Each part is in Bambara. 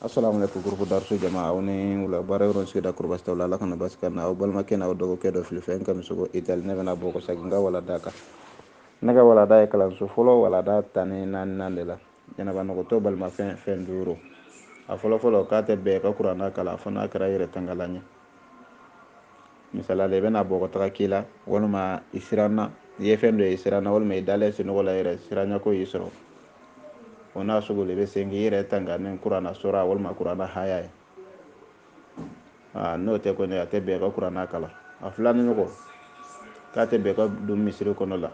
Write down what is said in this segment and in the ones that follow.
assalamu aleykum groupe darsu jama aw ni wula baara yɔrɔ sigida kori basi t'aw la ala kana basi ka na aw balimakɛ n'aw dɔgɔkɛ dɔ filifɛn kamisogo itali ne bɛna bɔ kɔsagin n ka walada kan ne ka walada ye kalanso fɔlɔ walada tan ni naaninan de la janaba nɔgɔtɔ balimafɛn fɛn duuru a fɔlɔfɔlɔ k'a tɛ bɛn ka kuranna kalan fo n'a kɛra yɛrɛ tangalan ye misali la i bɛna bɔ ka taga k'i la walima i siranna i ye fɛn dɔ ye i siranna walima i dalen sunɔgɔ la yɛrɛ siranyako y'i sɔrɔ o n'a sugu de bɛ se k'i yɛrɛ tanga ni kuranna sura walima kuranna haya ye n'o tɛ kɔni a tɛ bɛn ka kuranna kalan a filanan ɲɔgɔn k'a tɛ bɛn ka don misiri kɔnɔ la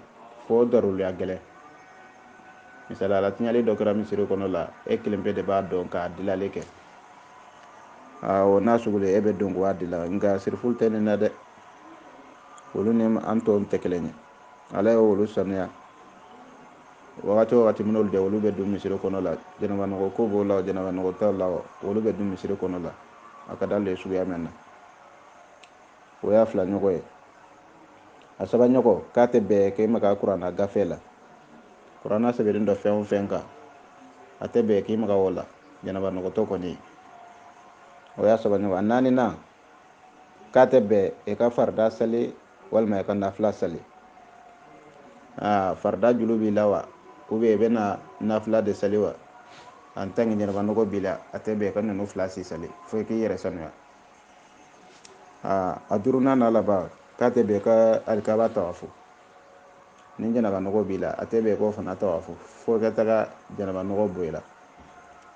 fo daruruya gɛlɛn misaliya la tiɲɛli dɔ kɛra misiri kɔnɔ la e kelen pe de b'a dɔn k'a dilali kɛ o n'a sugu de e bɛ don k'a dila nka sirifulu tɛ nin na dɛ olu ni an tɔw tɛ kelen ye ala ye olu sanuya wagati o wagati min olu de olu bɛ don misiri kɔnɔ la janaba nɔgɔ ko b'o la janaba nɔgɔ t'o la olu bɛ don misiri kɔnɔ la a ka d'ale ye suguya min na o y'a fila ɲɔgɔn ye a saba ɲɔgɔn k'a tɛ bɛn k'e maga kuranna gafe la kuranna sɛbɛnnen don fɛn o fɛn kan a tɛ bɛn k'e maga o la janaba nɔgɔtɔ kɔni ye o y'a saba ɲɔgɔn a naaninan k'a tɛ bɛn i ka farida sali walima i ka nafila sali aa farida julu b'i la wa ou bien i bɛna nafila de sali wa en tant que janaba nɔgɔ b'i la a tɛ bɛn i ka ninnu fila si sali fo i k'i yɛrɛ sanuya aa a duurunan n'a laban k'a tɛ bɛn i ka alikaba tawafu ni janaba nɔgɔ b'i la a tɛ bɛn k'o fana tawafu fo i ka taga janaba nɔgɔ bɔ i la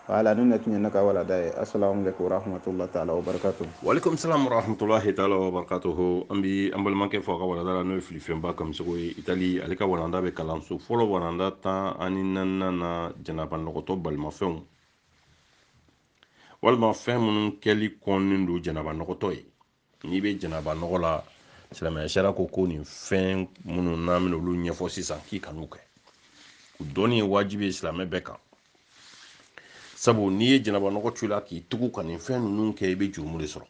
wala nin de tun ye ne ka walada ye asalamu alaikum warahmatullahi taala wa barakatuh walaikum salam warahmatullahi taala wa barakatuh an bi an balimakɛ fo a ka walada la n'o ye filifɛnba kamisogo ye itali ale ka walanda bɛ kalanso fɔlɔ walanda tan ani naaninan na janaba nɔgɔtɔ balimafɛnw walima fɛn minnu kɛli kɔnnen don janaba nɔgɔtɔ ye n'i bɛ janaba nɔgɔ la silamɛya sariya ko ko nin fɛn minnu n'an bɛna olu ɲɛfɔ sisan k'i kan'u kɛ o dɔnni ye wajibi ye silamɛ bɛɛ kan sabu n'i ye janaba nɔgɔ to i la k'i tugu ka nin fɛn ninnu kɛ i bɛ jurumu de sɔrɔ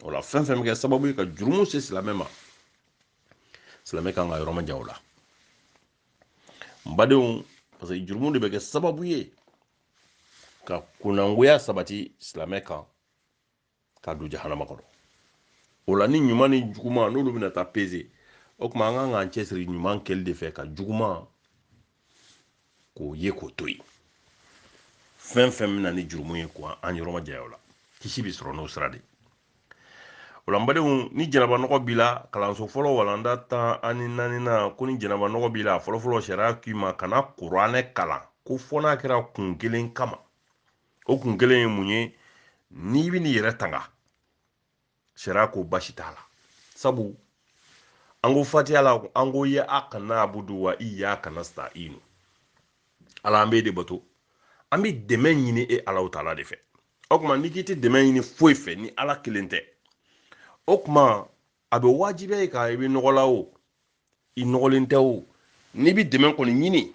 o la fɛn fɛn bɛ kɛ sababu ye ka jurumu se silamɛ ma silamɛ kan ka yɔrɔ majan o la n badenw parce que jurumu de bɛ kɛ sababu ye ka kunnagoya sabati silamɛ kan k'a don jahanama kɔnɔ o la ni ɲuman ni juguman n'olu bɛna taa peze o tuma an kan k'an cɛsiri ɲuman kɛli de fɛ ka juguman k'o ye k'o to yen fɛn fɛn bɛ na ni jurumu ye ko an yɔrɔ majanya o la kisi bɛ sɔrɔ n'o sira de ye o la n badenw ni janaba nɔgɔ b'i la kalanso fɔlɔ walanda tan ani naaninan ko ni janaba nɔgɔ b'i la fɔlɔfɔlɔ sariya k'i ma kana kuranɛ kalan ko fo n'a kɛra kun kelen kama o kun kelen ye mun ye n'i bɛ n'i yɛrɛ tanga sariya ko basi t'a la sabu an ko fatiha la an ko iyaka nabudu wa iyaka nasitayinu ala an bɛ de bato an bɛ dɛmɛ ɲini e alahu taala de fɛ o tuma n'i k'i tɛ dɛmɛ ɲini foyi fɛ ni ala kelen tɛ o tuma a bɛ wajibiya i kan i bɛ nɔgɔ la o i nɔgɔlen tɛ o n'i bɛ dɛmɛ kɔni ɲini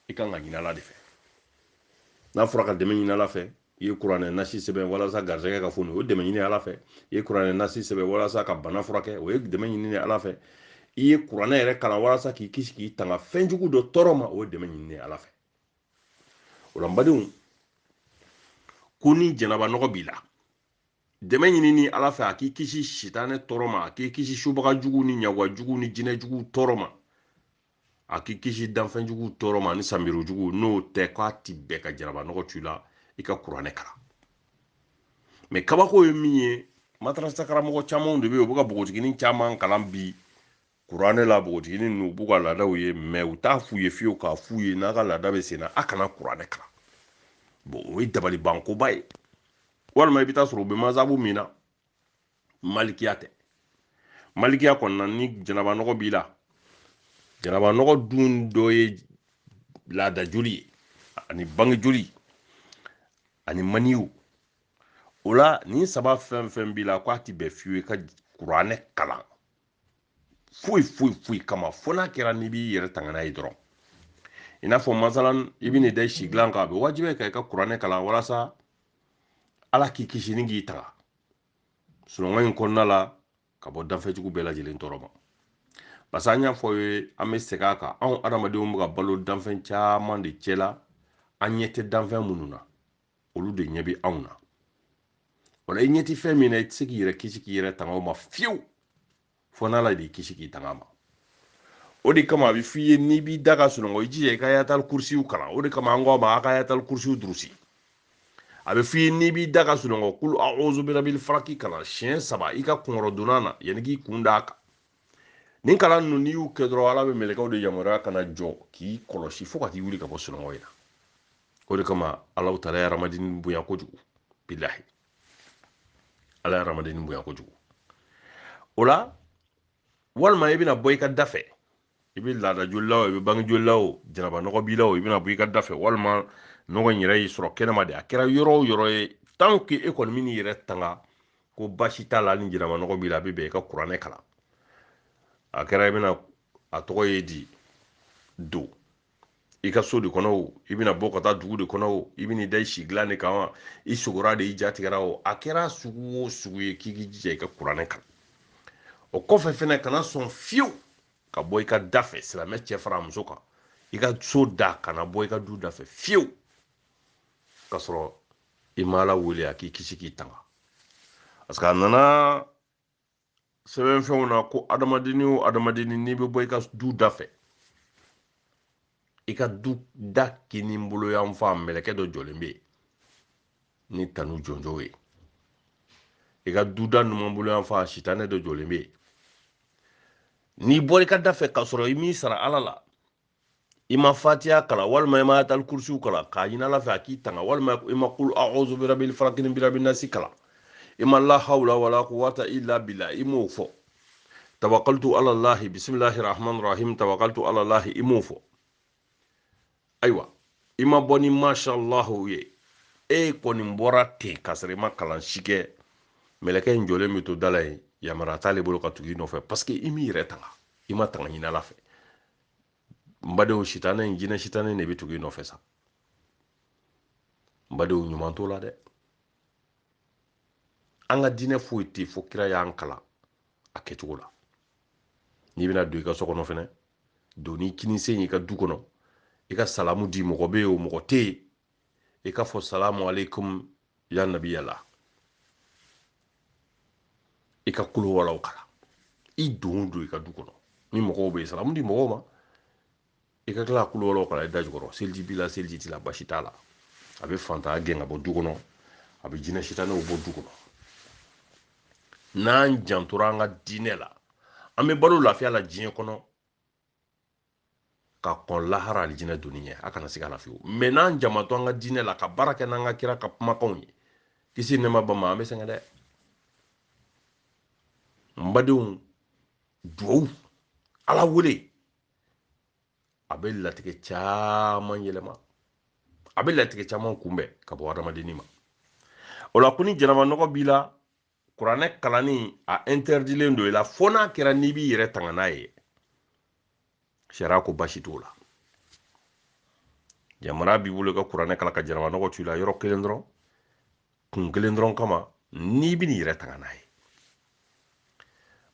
i kan k'a ɲini ala de fɛ n'a fɔra ka dɛmɛ ɲini ala fɛ i ye kuranɛ nasi sɛbɛn walasa garisɛgɛ ka foni o ye dɛmɛ ɲini ala fɛ i ye kuranɛ nasi sɛbɛn walasa ka bana furakɛ o ye dɛmɛ ɲini ala fɛ i ye kuranɛ yɛrɛ kalan walasa k'i kisi k'i tanga fɛn jugu dɔ tɔɔrɔ ma o ye dɛmɛ ɲini ala fɛ o la n badenw ko ni janaba nɔgɔ b'i la dɛmɛ ɲinini ala fɛ a k'i kisi sitanɛ tɔɔrɔ ma a k'i kisi subaga jugu ni ɲagwan jugu ni jinɛ jugu tɔɔrɔ ma a k'i kisi danfɛn jugu tɔɔrɔ ma ni sanbiro jugu n'o tɛ k'a ti bɛn ka janaba nɔgɔ to i la i ka kuranɛ kalan mɛ kabako ye min ye madarasa karamɔgɔ camanw de bɛ yen u bɛ ka npogotiginin caman kalan bi kuranɛ la npogotiginin ninnu u b'u ka laadaw ye mɛ u t'a f'u ye fiyewu k'a f'u ye n'a ka laada bɛ sen na a kana kuranɛ kalan bon o ye dabalibankoba ye walima i bɛ taa sɔrɔ u bɛ mazahabu min na malikiya tɛ malikiya kɔnɔna ni janaba nɔgɔ b'i la janaba nɔgɔ dun dɔ ye laada joli ye ani bange joli ani maniyu o la nin saba fɛn fɛn b'i la k'a ti bɛn fiyewu i ka kuranɛ kalan foyi foyi foyi kama fo n'a kɛra n'i b'i yɛrɛ tanga n'a ye dɔrɔn i n'a fɔ masalan i bɛ n'i da si dilan kan a bɛ wajibiya i kan i ka kuranɛ kalan walasa ala k'i kisi ni k'i tanga sunɔgɔ in kɔnɔna la ka bɔ danfɛn jugu bɛɛ lajɛlen tɔɔrɔ ma parce que an y'a fɔ aw ye an bɛ segin a kan anw adamadenw bɛ ka balo danfɛn caman de cɛ la an ɲɛ tɛ danfɛn minnu na olu de ɲɛ bɛ anw na o la i ɲɛ tɛ fɛn min na i tɛ se k'i yɛrɛ kisi k'i yɛrɛ tanga o ma fiyewu fo n'ala de y'i kisi k'i tanga a ma o de kama a bɛ f'i ye n'i b'i da ka sunɔgɔ i jija i ka ayatali kurusiyu kalan o de kama an k'a ma a ka ayatali kurusiyu durusi a bɛ f'i ye n'i b'i da ka sunɔgɔ kulu awuzu birabili falaki kalan siɲɛ saba i ka kunkɔrɔdonnan na yanni k'i kun d'a kan nin kalan ninnu n'i y'u kɛ dɔrɔn ala bɛ mɛlɛkɛw de yamaruya ka na jɔ k'i kɔlɔsi fo ka t'i wuli ka bɔ sunɔgɔ in na o de kama alahu taala ye hadamaden bonya kojugu bilahi ala ye hadamaden bonya kojugu o la walima i bɛna bɔ i ka da fɛ i bɛ laada joli la o i bɛ bange joli la o janaba nɔgɔ b'i la o i bɛna bɔ i ka da fɛ walima nɔgɔ in yɛrɛ y'i sɔrɔ kɛnɛma de a kɛra yɔrɔ o yɔrɔ ye tant que e kɔni bɛ n'i yɛrɛ tanga ko basi t'a la ni janaba nɔgɔ b'i la a bɛ bɛn i ka kuranɛ kalan a kɛra i bɛna a tɔgɔ ye di don i ka so de kɔnɔ o i bɛna bɔ ka taa dugu de kɔnɔ o i bɛna i da i si dilan de kan wa i sogora de i ja tigɛra o a kɛra sugu o sugu ye k'i k'i jija i ka kuranɛ kalan o kɔfɛ fɛnɛ kana sɔn fiyewu ka bɔ i ka da fɛ silamɛ cɛ fara a muso kan i ka so da kana bɔ i ka du da fɛ fiyewu ka sɔrɔ i ma ala wele a k'i kisi k'i tanga parce que a nana sɛbɛnfɛnw na ko adamadenni o adamadenni n'i bɛ bɔ i ka du da fɛ i ka du da kini bolo yan fan mɛlɛkɛ dɔ jɔlen bɛ yen ni tanu jɔnjɔn ye i ka du da numan bolo yan fan sitanɛ dɔ jɔlen bɛ yen n'i bɔra i ka da fɛ k'a sɔrɔ i m'i sara ala la i ma fatiya kalan walima i ma ayatal kursiyu kalan k'a ɲini ala fɛ a k'i tanga walima i ma kul a'udhu birabil falaki ni birabin nasi kalan i ma la hawla wala quwata illa billah i m'o fɔ tawakaltu ala lahi bisimilahi rahmani rahim tawakaltu ala lahi i m'o fɔ ayiwa i ma bɔ ni mashallahu ye e kɔni bɔra ten k'a sɔrɔ i ma kalan si kɛ mɛlɛkɛ in jɔlen bɛ to da la yen yamaruya t'ale bolo ka tugu i nɔfɛ parce que i m'i yɛrɛ tanga i ma tanga ɲini ala fɛ n badenw sitanɛ in jinɛ sitanɛ de bɛ tugu i nɔfɛ sa n badenw ɲuman t'o la dɛ an ka diinɛ foyi tɛ fo kira y'an kalan a kɛcogo la n'i bɛna don i ka so kɔnɔ fɛnɛ don ni kinisen y'i ka du kɔnɔ i ka salamu di mɔgɔ bɛ yen o mɔgɔ tɛ yen i k'a fɔ salamu aleykum ya nabiyala i ka kul huwallahu kalan i dontɔ i ka du kɔnɔ ni mɔgɔw bɛ yen salamu di mɔgɔw ma i ka tila ka kul huwallahu kalan i da jukɔrɔ seliji b'i la seliji t'i la basi t'a la a bɛ fantanya gɛn ka bɔ du kɔnɔ a bɛ jinɛ sitanɛw bɔ du kɔnɔ n'an jantora an ka diinɛ la an bɛ balo lafiya la diɲɛ kɔnɔ ka kɔn lahara alijinɛ donni ɲɛ an ka na se ka lafiya mais n'an jan ma to an ka diinɛ la ka baara kɛ n'an ka kira ka kumakanw ye kisi nɛɛma b'a ma an bɛ sɛgɛn dɛ n badenw duwawu ala wele a bɛ latigɛ caman yɛlɛma a bɛ latigɛ caman kunbɛn ka bɔ adamadenni ma o la ko ni janaba nɔgɔ b'i la kuranɛ kalanni a interdilen don i la fo n'a kɛra n'i b'i yɛrɛ tanga n'a ye sariya ko basi t'o la yamaruya b'i bolo i ka kuranɛ kalan ka janaba nɔgɔ t'i la yɔrɔ kelen dɔrɔn kun kelen dɔrɔn kama n'i bɛn'i yɛrɛ tanga n'a ye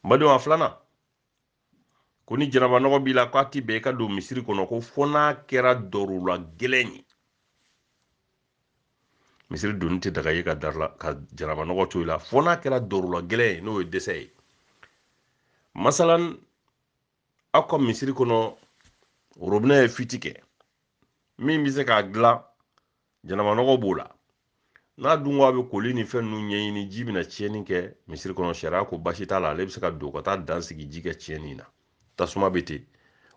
n badenw a filanan ko ni janabanɔgɔ b'i la k'a ti bɛn i ka don misiri kɔnɔ ko fɔ n'a kɛra dɔrula gɛlɛn ye misiri donni tɛ daga i ye ka janabanɔgɔ to i la fɔ n'a kɛra dɔrula gɛlɛn ye n'o ye dɛsɛ ye masalan aw ka misiri kɔnɔ robinɛ ye fuite kɛ min bɛ se k'a dilan janabanɔgɔ b'o la n'a dun ko a bɛ koli ni fɛn ninnu ɲɛɲini ji bɛna tiɲɛni kɛ misiri kɔnɔ sariya ko basi t'a la ale bɛ se ka don ka taa dan sigi ji ka tiɲɛni na tasuma bɛ ten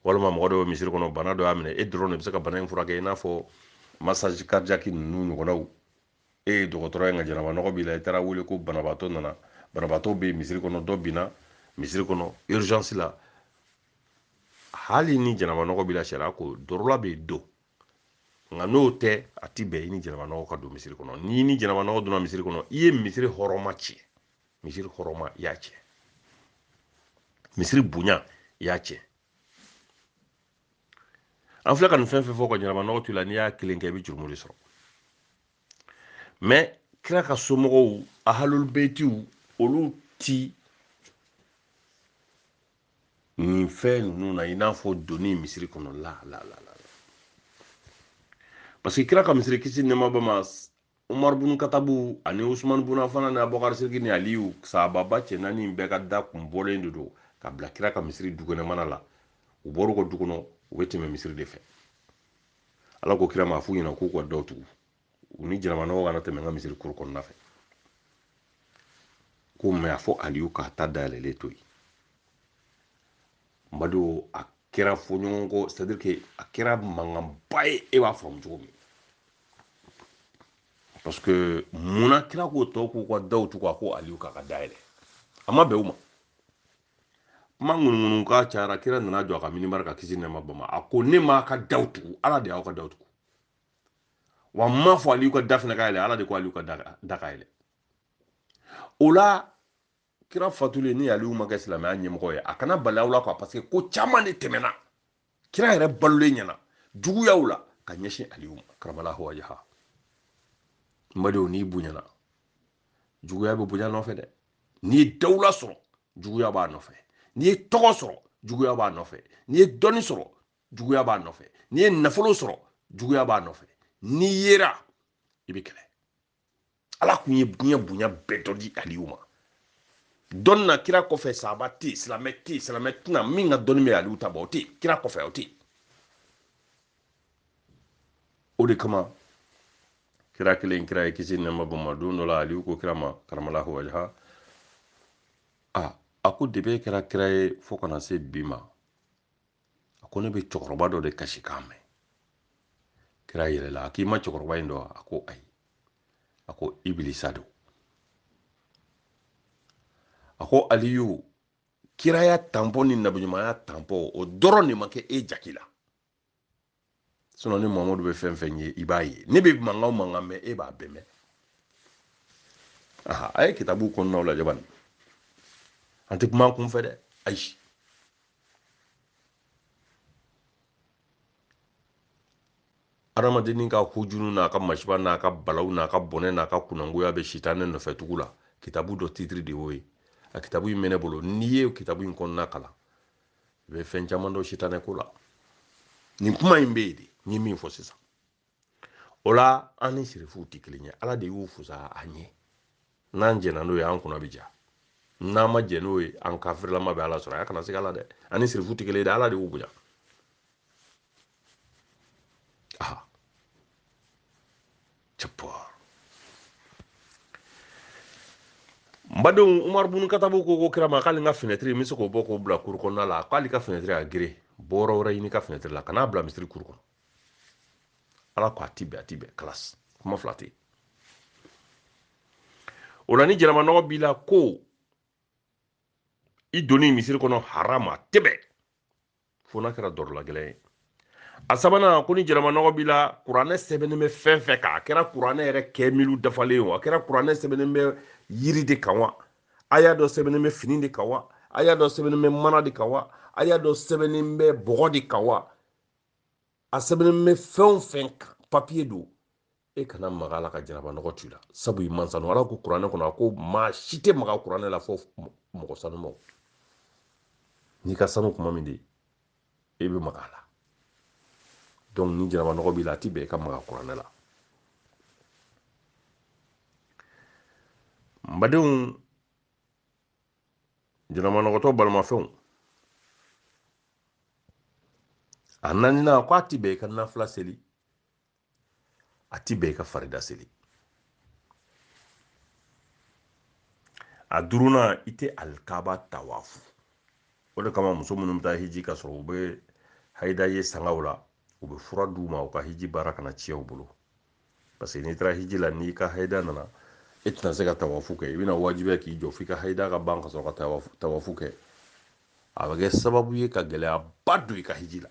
walima mɔgɔ dɔ bɛ misiri kɔnɔ bana dɔ y'a minɛ e dɔrɔn de bɛ se ka bana in furakɛ i n'a fɔ massage cardiaque ninnu ɲɔgɔnnaw e ye dɔgɔtɔrɔ ye nka janaba nɔgɔ b'i la i taara wele ko banabaatɔ nana banabaatɔ bɛ misiri kɔnɔ dɔ binna misiri kɔnɔ urgence la hali ni janaba nɔgɔ b'i la sariya ko dɔrɔla bɛ don nka n'o tɛ a ti bɛn i ni janabanɔgɔ ka don misiri kɔnɔ n'i ni janabanɔgɔ donna misiri kɔnɔ i ye misiri hɔrɔma tiɲɛ misiri hɔrɔma i y'a tiɲɛ misiri bonya i y'a tiɲɛ an filɛ ka nin fɛn fɛn fɔ ka janabanɔgɔ to i la n'i y'a kelen kɛ i bɛ jurumu de sɔrɔ mais kira ka somɔgɔw ahalulubetiw olu ti nin fɛn ninnu na i n'a fɔ donni misiri kɔnɔ la parce que kira ka misiri kisi nɛɛma b'a ma umaru bunu katabu ani usumani bunu afana ni abubakar siriki ni aliyu sahababa cɛ naani bɛɛ ka da kun bɔlen de don ka bila kira ka misiri dukɛnɛmana la u bɔr'u ka du kɔnɔ u bɛ tɛmɛ misiri de fɛ ala ko kira ma a f'u ɲɛna k'u ka daw tugu u ni janabanɔgɔ kana tɛmɛ n ka misiri cour kɔnɔna fɛ ko mais a fɔ aliyu k'a ta dayɛlɛlen to yen madu a kɛra fɔɲɔgɔnkɔ c'est que a kɛra mankanba ye e b'a faamu cogo min parce que munna kira ko tɔw k'u ka daw tugu a ko aliyu k'a ka da yɛlɛ a ma bɛn u ma kuma ŋunuŋunu kan cayara kira nana jɔ a ka minibari kan kisi nɛɛma b'a ma a ko ne m'aw ka daw tugu ala de y'aw ka daw tugu wa n m'a fɔ aliyu ka da fana ka yɛlɛ ala de ko aliyu ka da ka yɛlɛ o la kira fatulen ni aliyu ma kɛ silamɛya ɲɛmɔgɔ ye a kana bali aw la quoi parce que ko caman de tɛmɛna kira yɛrɛ balolen ɲɛna juguyaw la ka ɲɛsin aliyu ma karamalahu wajaha n badenw n'i bonyana juguya bɛ bonya nɔfɛ dɛ n'i ye dawula sɔrɔ juguya b'a nɔfɛ n'i ye tɔgɔ sɔrɔ juguya b'a nɔfɛ n'i ye dɔnni sɔrɔ juguya b'a nɔfɛ n'i ye nafolo sɔrɔ juguya b'a nɔfɛ n'i yera i bɛ kɛlɛ ala kun ye diɲɛ bonya bɛɛ dɔ di aliyu ma dɔnni na kira kɔfɛ sahaba tɛ yen silamɛ tɛ yen silamɛ tɛna min ka dɔnni bɛ aliyu ta bɔ o tɛ yen kira kɔfɛ o tɛ yen o de kama kira kelen kira ye kisi nɛma b'a ma don dɔ la aliyu ko kira ma karamalahu wajaha a a ko depi kɛra kira ye fo ka na se bi ma a ko ne bɛ cɛkɔrɔba dɔ de kasikan mɛn kira yɛlɛla a k'i ma cɛkɔrɔba in dɔn a ko ayi a ko ibilisa don a ko aliyu kiraya tanpɔ ni nabiɲumanya tanpɔ o dɔrɔn de ma kɛ e jaki la sinɔn ne mamadu bɛ fɛn fɛn ye i b'a ye ne bɛ mankan mankan mɛn e b'a bɛɛ mɛn aha a ye kitabu kɔnɔnaw lajɛ bani an tɛ kuma kunfɛ dɛ ayi adamadennin ka hujunu n'a ka masiba n'a ka balaw n'a ka bɔnɛ n'a ka kunangoya bɛ sitanɛ nɔfɛ tugu la kitabu dɔ titiri de y'o ye a kitabu in bɛ ne bolo n'i ye kitabu in kɔnɔna kalan i bɛ fɛn caman dɔn sitanɛ ko la nin kuma in bɛ yen de n ye min fɔ sisan o la an ni sirifuw tɛ kelen ye ala de y'u fusa an ye n'an jɛnna n'o ye an kunna bɛ ja n'an ma jɛn n'o ye an kafirilama bɛ ala sɔrɔ a kana siga a la dɛ an ni sirifuw tɛ kelen ye dɛ ala de y'u bonya n badenw umaru bunu katabu ko kira ma k'ale ka finɛtiri in bɛ se k'o bɔ k'o bila kuru kɔnɔna la k'ale ka finɛtiri a gere bɔyɔrɔ wɛrɛ ɲini ka finɛtiri la kan'a bila misiri kuru kɔnɔ ala ko a ti bɛn a ti bɛn kalasi kuma fila tɛ yen o la ni janabanɔgɔ b'i la ko i donni misiri kɔnɔ haramu a tɛ bɛn fo n'a kɛra dɔrɔla gɛlɛn ye a sabanan ko ni janabanɔgɔ b'i la kuranɛ sɛbɛnnen bɛ fɛn fɛn kan a kɛra kuranɛ yɛrɛ kamilu dafalen o a kɛra kuranɛ sɛbɛnnen bɛ yiri de kan wa aya dɔ sɛbɛnnen bɛ fini de kan wa aya dɔ sɛbɛnnen bɛ mana de kan wa aya dɔ sɛbɛnnen bɛ bɔgɔ de kan wa a sɛbɛnnen bɛ fɛn o fɛn kan papiye don e kana maga a la ka janabanɔgɔ t'i la sabu i man sanu ala ko kuranɛ kɔnɔ a ko maa si tɛ maga kuranɛ la fɔ mɔgɔ sanumaw n'i ka sanu kuma min de e bɛ maga a la donc ni janabanɔgɔ b'i la a ti bɛn i ka maga kuranɛ la n badenw janabanɔgɔtɔ balimafɛnw a naaninan ko a ti bɛn i ka nafila seli a ti bɛn i ka farida seli a duurunan i tɛ alikaba tawafu o de kama muso minnu bɛ taa hiji ka sɔrɔ u bɛ hayida ye sangaw la u bɛ fura d'u ma u ka hiji baara kana tiɲɛ u bolo parce que n'i taara hiji la n'i ka hayida nana e tɛna se ka tawafu kɛ i bɛna wajibiya k'i jɔ f'i ka hayida ka ban ka sɔrɔ ka tawafu kɛ a bɛ kɛ sababu ye ka gɛlɛyaba don i ka hiji la